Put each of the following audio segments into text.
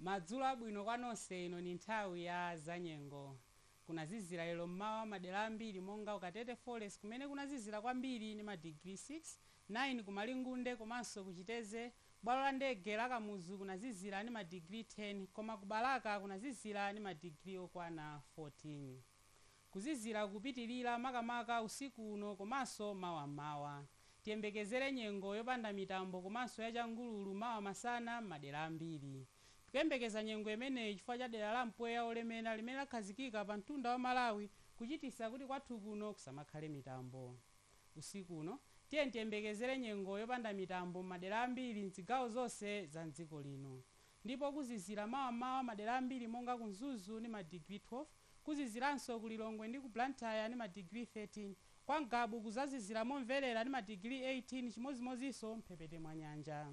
Madzulo abwino kwa nonse ino ni nthawi ya zanyengo. Kunazizira lero m'mawa m'madera ambiri monga ku Katete Forest kumene kunazizira kwambiri ni madigiri 6, 9 ku Malingunde komanso ku Chitedze bwalo la ndege la Kamuzu kunazizira ni madigiri 10 koma ku Balaka kunazizira ni madigiri okwana 14. Kuzizira kupitilira makamaka usiku uno komanso mawa m'mawa. Tiyembekezere nyengo yopanda mitambo komanso ya changululu mawa masana m'madera ambiri. Tikuyembekeza nyengo imeneyi chifukwa cha dera la mpweya wolemera limene lakhazikika pa mtunda wa Malawi kuchitisa kuti kwathu kuno kusamakhale mitambo. Usiku uno tiyeni tiyembekezere nyengo yopanda mitambo m'madera ambiri m'zigawo zonse za m'dziko lino. Ndipo kuzizira mawa m'mawa madera ambiri monga ku Mzuzu ndi madigiri 12. kuziziranso ku Lilongwe ndi ku Blantyre ndi madigiri 13, kwa Ngabu kuzazizira momverera ndi madigiri 18 chimodzimodzinso m'mphepete mwa nyanja.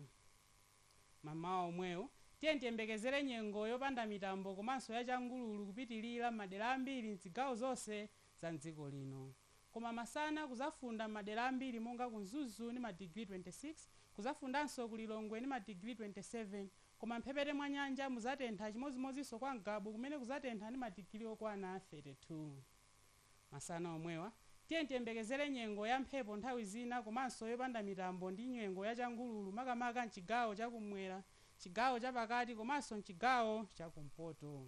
M'mawa omwewu, tiyeni tiyembekezere nyengo yopanda mitambo komanso ya changululu kupitilira m'madera ambiri m'zigawo zonse za m'dziko lino. koma masana kuzafunda m'madera ambiri monga ku Mzuzu ndi madigiri 26, kuzafundanso ku Lilongwe ndi madigiri 27, koma m'mphepete mwa nyanja muzatentha chimodzimodzinso kwa Ngabu kumene kuzatentha ndi madigiri okwana 32. Masana omwewa, tiyeni tiyembekezere nyengo ya mphepo nthawi zina komanso yopanda mitambo ndi nyengo ya changululu makamaka m'chigawo cha kumwera, chigawo chapakati komanso m'chigawo cha kumpoto.